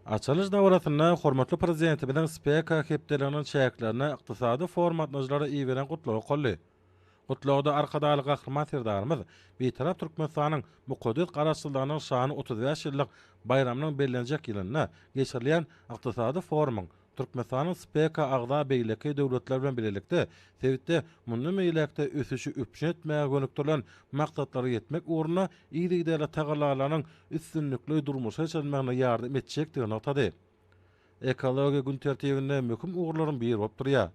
Açylyş dabarasynda hormatly Prezidentimiziň SPEKA hepdeliginiň çäklerinde ykdysady forum gatnaýjylara iberen gutlagy okaldy. Gutlagda Arkadagly Gahryman Serdarymyz Bitarap Türkmenistanyň mukaddes Garaşsyzlygynyň şanly otuz bäş ýyllyk baýramynyň bellenjek ýylynda geçirilýän ykdysady forumyň Türkmenistanyň SPEKA agza beýleki döwletler bilen bilelikde sebitde mundan beýläk-de ösüşi üpjün etmäge gönükdirilen maksatlara ýetmek ugrunda yzygiderli tagallalarynyň üstünlikli durmuşa geçirilmegine ýardam etjekdigini nygtady. Ekologiýa gün tertibinde möhüm ugurlaryň biri bolup durýar.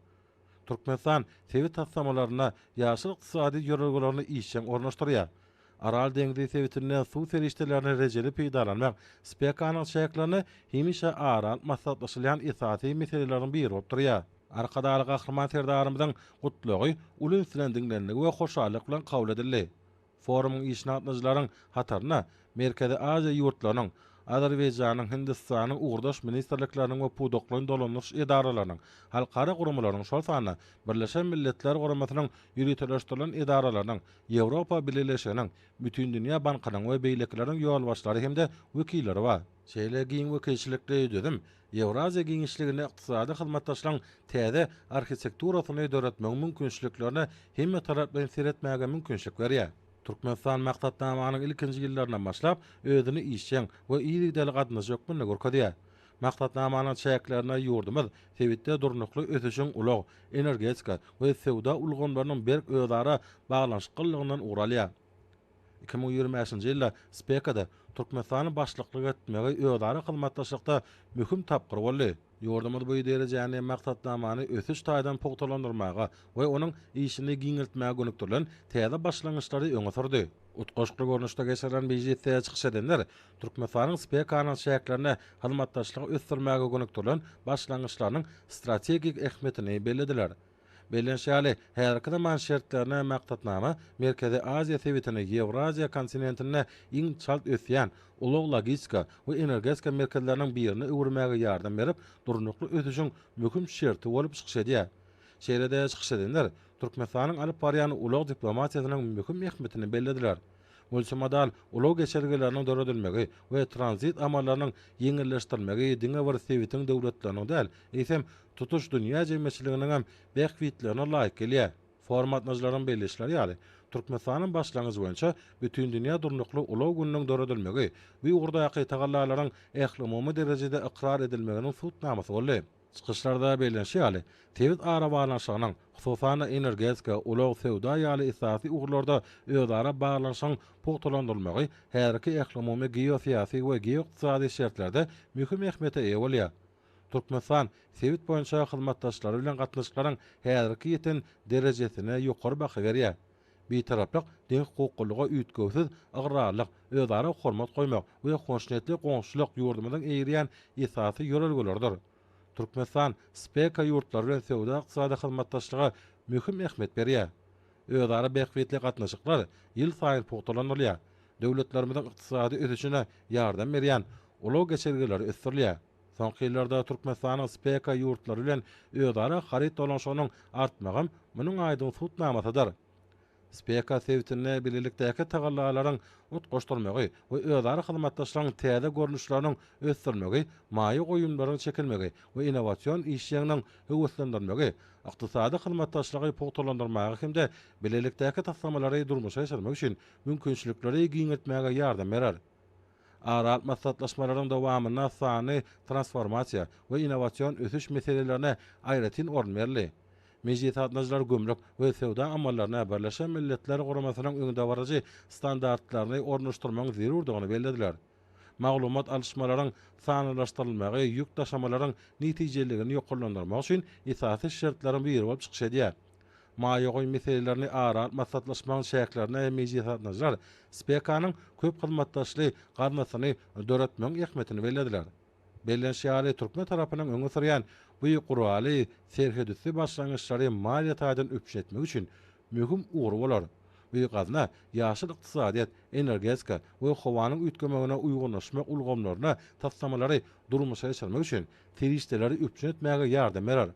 Türkmenistan sebit taslamalarynda ýaşyl ykdysady ýörelgelerini işjeň ornaşdyrýar. Aral deňzi sebitinden suw serişdelerini rejeli peýdalanmak SPEKA-nyň çäklerinde hemişe ara alyp maslahatlaşylýan esasy meseleleriň biri bolup durýar. Arkadagly Gahryman Serdarymyzyň Gutlagy uly üns bilen diňlenildi we hoşallyk bilen kabul edildi. Forumyň işine gatnaýjylaryň hataryna Merkezi Aziýa ýurtlarynyň, Azerbaýjanyň, Hindistanyň ugurdaş ministrlikleriniň we pudaklaýyn dolandyryş edaralarynyň, halkara guramalaryň, şol sanda Birleşen Milletler Guramasynyň ýöriteleşdirilen edaralarynyň, Ýewropa Bileleşiginiň, Bütindünýä bankynyň we beýlekileriň ýolbaşçylary hem-de wekilleri bar. Şeýle giň wekilçilikli düzüm Ýewraziýa giňişliginde ykdysady hyzmatdaşlygyň täze arhitekturasyny döretmegiň mümkinçiliklerine hemmetaraplaýyn seretmäge mümkinçilik berýär. Türkmenistan Maksatnamanyň ilkinji ýyllaryndan başlap özüni işjeň we yzygiderli gatnaşyjy hökmünde görkezýär. Maksatnamanyň çäklerinde ýurdumyz sebitde durnukly ösüşiň ulag, energetika we söwda ulgamlarynyň berk özara baglanyşyklylygyndan ugur alýar. Iki müň ýigrimi bäşinji ýylda SPEKA-da Türkmenistanyň başlyklyk etmegi özara hyzmatdaşlykda möhüm tapgyr boldy. Ýurdumyz bu derejäni maksatnamany ösüş taýdan pugtalandyrmaga we onuň işini giňeltmäge gönükdirilen täze başlangyçlary öňe sürdi. Utgaşykly görnüşde geçirilen mejlisde çykyş edenler Türkmenistanyň SPEKA-nyň çäklerinde hyzmatdaşlygy ösdürmäge gönükdirilen başlangyçlarynyň strategik ähmiýetini bellediler. Bellenşi ýaly, häzirki zaman şertlerine maksatnama Merkezi Aziýa sebitini Ýewraziýa kontinentinde iň çalt ösýän ulag-logistika we energetika merkezleriniň birine öwürmäge ýardam berip, durnukly ösüşiň möhüm şerti bolup çykyş edýär. Şeýle-de çykyş edenler Türkmenistanyň alyp barýan ulag diplomatiýasynyň möhüm ähmiýetini bellediler. Multimodal ulag geçelgeleriniň döredilmegi we tranzit amallarynyň ýeňilleşdirilmegi diňe bir sebitiň döwletleriniň däl, eýsem, tutuş dünýä jemgyýetçiliginiň hem bähbitlerine laýyk gelýär. Forum gatnaşyjylarynyň belleýişleri ýaly, Türkmenistanyň başlangyjy boýunça Bütindünýä durnukly ulag gününiň döredilmegi bu ugurdaky tagallalaryň ählumumy derejede ykrar edilmeginiň subutnamasy boldy. Çykyşlarda bellenişi ýaly, sebit arabaglanyşygynyň, hususan-da, energetika, ulag, söwda ýaly esasy ugurlarda özara baglanyşygyň pugtalandyrylmagy häzirki ählumumy geosyýasy we geoykdysady şertlerde möhüm ähmiýete eýe bolýar. Türkmenistan sebit boýunça hyzmatdaşlary bilen gatnaşyklaryň häzirki ýeten derejesine ýokary baha berýär. Bitaraplyk deňhukuklylyga üýtgewsiz ygrarlyk, özara hormat goýmak we hoşniýetli goňşulyk ýurdumyzyň eýerýän esasy ýörelgeleridir. Türkmenistan SPEKA ýurtlary bilen söwda-ykdysady hyzmatdaşlyga möhüm ähmiýet berýär. Özara bähbitli gatnaşyklar ýylsaýyn pugtalandyrylýar, döwletlerimiziň ykdysady ösüşine ýardam berýän ulag geçelgeleri ösdürilýär. Soňky ýyllarda Türkmenistanyň SPEKA ýurtlary bilen özara haryt dolanyşygynyň artmagam munuň aýdyň subutnamasydyr. SPEKA sebitinde bilelikdäki tagallalaryň utgaşdyrmagy we özara hyzmatdaşlygyň täze görnüşleriniň ösdürilmegi, maýa goýumlaryň çekilmegi we innowasion işjeňligiň höweslendirilmegi ykdysady hyzmatdaşlygy pugtalandyrmaga hem-de bilelikdäki taslamalary durmuşa geçirmek üçin mümkinçilikleri giňeltmäge ýardam berer. Aral maslahatlaşmalaryň dowamynda sanly transformasiýa we innowasion ösüş meselelerine aýratyn orun berildi. Mejlis gatnaýjylar gümrük we söwda amallaryna Birleşen Milletler Guramasynyň öňdebaryjy standartlaryny ornaşdyrmagyň zerurdygyny bellediler. Maglumat alyşmalaryň sanlylaşdyrylmagy ýük daşamalaryň netijeligini ýokarlandyrmak üçin esasy şertleriň biri bolup çykyş edýär. Maýa goýum meselelerini ara alyp maslahatlaşmagyň çäklerinde hem mejlis gatnaşyjylar SPEKA-nyň köp hyzmatdaşly gaznasyny döretmegiň ähmiýetini bellediler. Bellenişi ýaly, türkmen tarapynyň öňe sürýän bu guraly serhetüsti başlangyçlary maliýe taýdan üpjün etmek üçin möhüm ugry bolar. Öý gazna, ýaşyl ykdysadyýet, energetika we howanyň üýtgemegine uýgunlaşmak ulgamlaryna taslamalary durmuşa geçirmek üçin serişdeleri üpjün etmäge ýardam berer.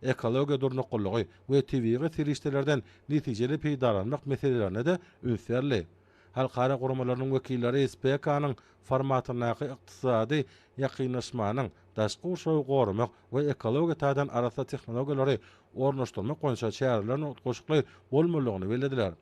Ekologiýa durnuklylygy we tebigy serişdelerden netijeli peýdalanmak meselelerine-de üns berli. Halkara guramalarynyň wekilleri SPEKA-nyň formatyndaky ykdysady ýakynlaşmanyň, daşky gurşawy goramak we ekologiýa taýdan arassa tehnologiýalary ornaşdyrmak boýunça çäreleriň utgaşykly bolmalydygyny bellediler.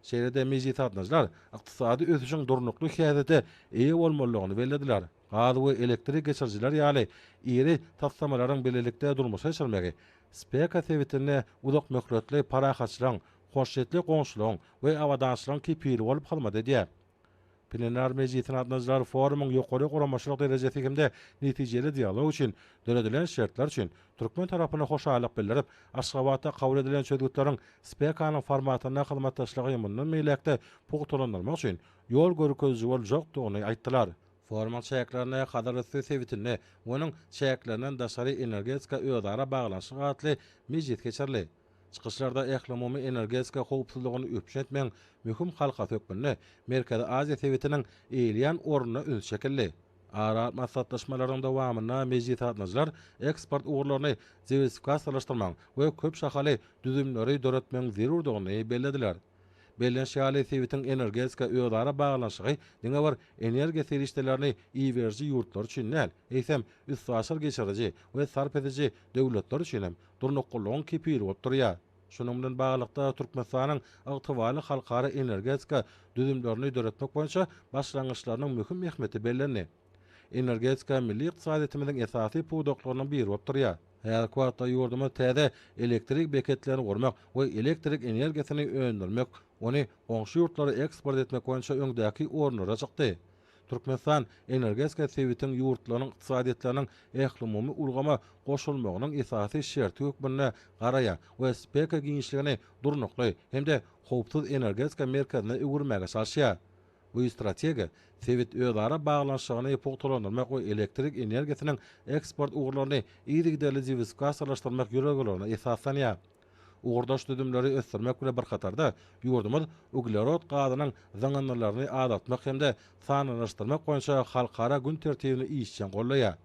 Şeýle-de mejlisgatnaşyjylar ykdysady ösüşiň durnukly häsiýete eýe bolmalydygyny bellediler, gaz we elektrik geçirijiler ýaly iri taslamalaryň bilelikde durmuşa geçirmegi SPEKA sebitinde uzakmöhletli parahatçylygyň, hoşniýetli goňşulygyň we abadançylygyň kepili bolup hyzmat edýär. Plenar mejlisiň gatnaşyjylary forumyň ýokary guramaçylyk derejesi hem-de netijeli dialog üçin döredilen şertler üçin türkmen tarapyna hoşallyk bildirip, Aşgabatda kabul edilen çözgütleriň SPEKA-nyň formatynda hyzmatdaşlygy mundan beýläk-de pugtalandyrmak üçin ýol görkeziji boljakdygyny aýtdylar. Forumyň çäklerinde Hazarüsti sebitinde we onuň çäklerinden daşary energetika özara baglanyşyk atly mejlis geçirildi. Çykyşlarda ählumumy energetika howpsuzlygyny üpjün etmegiň möhüm halkasy hökmünde Merkezi Aziýa sebitiniň eýeleýän ornuna üns çekildi. Ara maslahatlaşmalaryň dowamynda mejlisgatnaşyjylar eksport ugurlaryny diwersifikasiýalaşdyrmagyň we köp şahaly düzümleri döretmegiň zerurdygyny bellediler. Belleniş ýaly, sebitiň energetika özara baglanyşygy diňe bir energiýa serişdelerini iberiji ýurtlar üçin däl, eýsem, üstaşyr geçiriji we sarp ediji döwletler üçin hem durnuklylygyň kepili bolup durýar. Şunuň bilen baglylykda, Türkmenistanyň ygtybarly halkara energetika düzümlerini döretmek boýunça başlangyçlarynyň möhüm ähmiýeti bellendi. Energetika milli ykdysadyýetimiziň esasy pudaklarynyň biri bolup durýar. Häzirki wagtda ýurdumyz täze elektrik beketlerini gurmak we elektrik energiýasyny öndürmek, ony goňşy ýurtlara eksport etmek boýunça öňdäki orunlara çykdy. Türkmenistan energetika sebitiň ýurtlarynyň ykdysadyýetleriniň ählumumy ulgama goşulmagynyň esasy şerti hökmünde garaýar we spekr giňişligini durnukly hem-de howpsuz energetika merkezine öwürmäge çalyşýar. Bu strategiýa sebit özara baglanyşygyny pugtalandyrmak we elektrik energiýasynyň eksport ugurlaryny yzygiderli diwersifikasiýalaşdyrmak ýörelgelerine esaslanýar. Ugurdaş düzümleri ösdürmek bilen bir hatarda, ýurdumyz uglerod gazynyň zyňyndylaryny azaltmak hem-de sanlylaşdyrmak boýunça halkara gün tertibini işjeň goldaýar.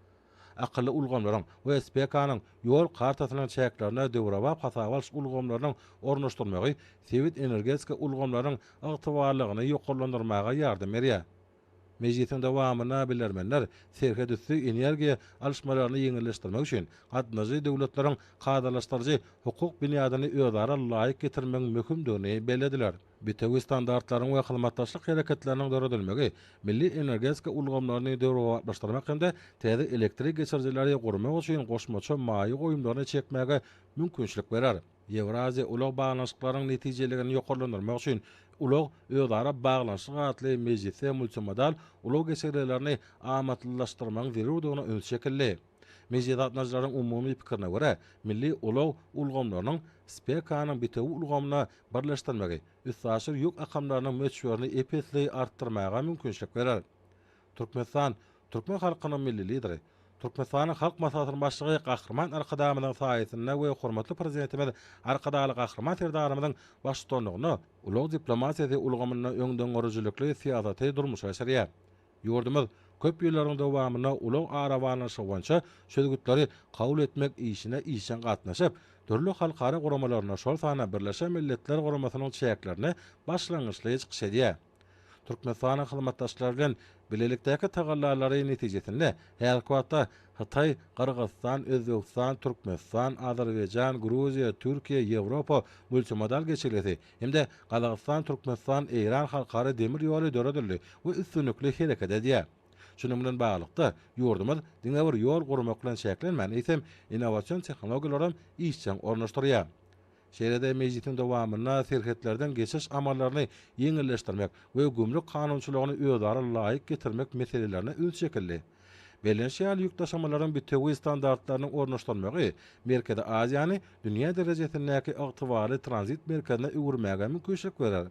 Akylly ulgamlaryň we SPK-nyň Ýol kartasynyň çäklerinde döwrebap hasaba alyş ulgamlarynyň ornaşdyrylmagy sebit energetika ulgamlarynyň ygtybarlylygyny ýokarlandyrmaga ýardam berýär. Mejlisiň dowamynda bilermenler serhetüsti energiýa alyşmalaryny ýeňilleşdirmek üçin gatnaşyjy döwletleriň kadalaşdyryjy hukuk binýadyny özara laýyk getirmegiň möhümdigini bellediler. Bitewi standartlaryň we hyzmatdaşlyk hereketleriniň döredilmegi milli energetika ulgamlaryny döwrebaplaşdyrmak hem-de täze elektrik geçirijileri gurmak üçin goşmaça maýa goýumlaryny çekmäge mümkinçilik berer. Ýewraziýa ulag baglanyşyklarynyň netijeligini ýokarlandyrmak üçin Ulag, özara baglanyşyk atly mejlisde multimodal ulag geçelgelerini amatlylaşdyrmagyň zerurdygyna üns çekildi. Mejlise gatnaşyjylaryň umumy pikirine görä, milli ulag ulgamlarynyň SPEKA-nyň bitewi ulgamyna birleşdirmegi üstaşyr ýük akamlarynyň möçberini ep-esli artdyrmaga mümkinçilik berer. Türkmenistan, türkmen halkynyň Milli Lideri, Türkmenistanyň Halk Maslahatynyň Başlygy Gahryman Arkadagymyzyň saýasynda we hormatly Prezidentimiz Arkadagly Gahryman Serdarymyzyň baştutanlygynda ulag diplomatiýasy ulgamynda öňdengörüjilikli syýasaty durmuşa geçirýär. Ýurdumyz köp ýyllaryň dowamynda ulag arabaglanyşygy boýunça çözgütleri kabul etmek işine işjeň gatnaşyp, dürli halkara guramalarynda, şol sanda Birleşen Milletler Guramasynyň çäklerinde başlangyçly çykyş edýär. Türkmenistanyň hyzmatdaşlar bilen bilelikdäki tagallalary netijesinde häzirki wagtda Hytaý, Gyrgyzystan, Özbegistan, Türkmenistan, Azerbaýjan, Gruziýa, Türkiýe, Ýewropa multimodal geçelgesi hem-de Gazagystan, Türkmenistan, Eýran halkara demir ýoly döredildi we üstünlikli hereket edýär. Şunuň bilen baglylykda, ýurdumyz diňe bir ýol gurmak bilen çäklenmän, eýsem, innowasion tehnologiýalaram işjeň ornaşdyrýar. Şeýle-de mejlisiň dowamynda serhetlerden geçiş amallaryny ýeňilleşdirmek we gümrük kanunçylygyny özara laýyk getirmek meselelerine üns çekildi. Bellenşýan ýük daşamalaryň bitewi standartlarynyň ornaşdyrylmagy Merkezi Aziýany dünýä derejesindäki ygtybarly tranzit merkezine öwürmäge mümkinçilik berer.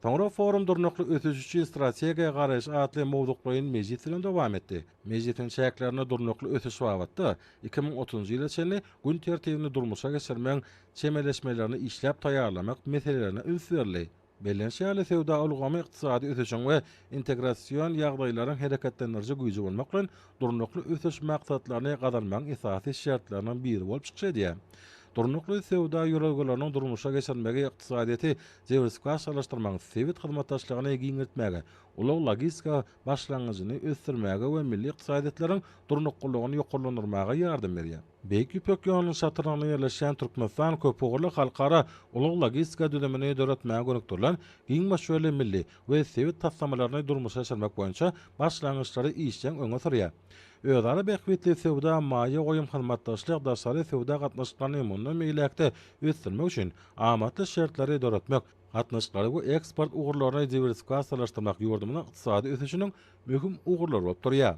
Soňra forum Durnukly ösüş üçin strategiýa garaýyş atly mowzuklaýyn mejlis bilen dowam etdi. Mejlisiň çäklerinde durnukly ösüş babatda iki müň otuzynjy ýyla çenli gün tertibini durmuşa geçirmegiň çemeleşmelerini işläp taýýarlamak meselelerine üns berildi. Bellenişi ýaly, söwda ulgamy ykdysady ösüşiň we integrasion ýagdaýlaryň hereketlendiriji güýji bolmak bilen, Durnukly ösüş maksatlaryny gazanmagyň esasy şertleriniň biri bolup çykyş edýär. Durnukly söwda ýörelgeleriniň durmuşa geçirilmegi ykdysadyýeti diwersifikasiýalaşdyrmagyň, sebit hyzmatdaşlygyny giňeltmäge, ulag-logistika başlangyjyny ösdürmäge we milli ykdysadyýetleriň durnuklylygyny ýokarlandyrmaga ýardam berýär. Beýik Ýüpek ýolunyň çatrygynda ýerleşýän Türkmenistan köpugurly halkara ulag-logistika düzümini döretmäge gönükdirilen giň möçberli milli, we sebit taslamalaryny durmuşa geçirmek boýunça başlangyçlary işjeň öňe sürýär. Özara bähbitli söwda, maýa goýum, hyzmatdaşlyk, daşary söwda gatnaşyklaryny mundan beýläk-de ösdürmek üçin amatly şertleri döretmek, gatnaşyklary we eksport ugurlaryny diwersifikasiýalaşdyrmak ýurdumyzyň ykdysady ösüşiniň möhüm ugurlary bolup durýar.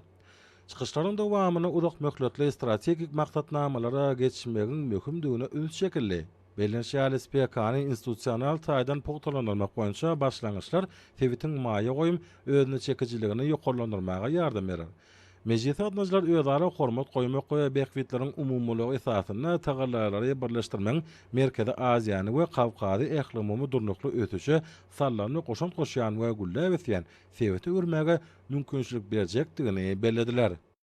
Çykyşlaryň dowamynda uzakmöhletli strategik maksatnamalara geçmegiň möhümdigine üns çekildi. Bellenişi ýaly, SPK-ny institusional taýdan pugtalandyrmak boýunça başlangyçlar sebitiň maýa goýum özüneçekijiligini ýokarlandyrmaga ýardam berer. Mejlise gatnaşyjylar özara hormat goýmak we bähbitleriň umumylygy esasynda tagallalary birleşdirmegiň Merkezi Aziýany we Kawkazy ählumumy durnukly ösüşe sallany goşant goşýan we gülläp ösýän sebite öwürmäge mümkinçilik berjekdigini bellediler.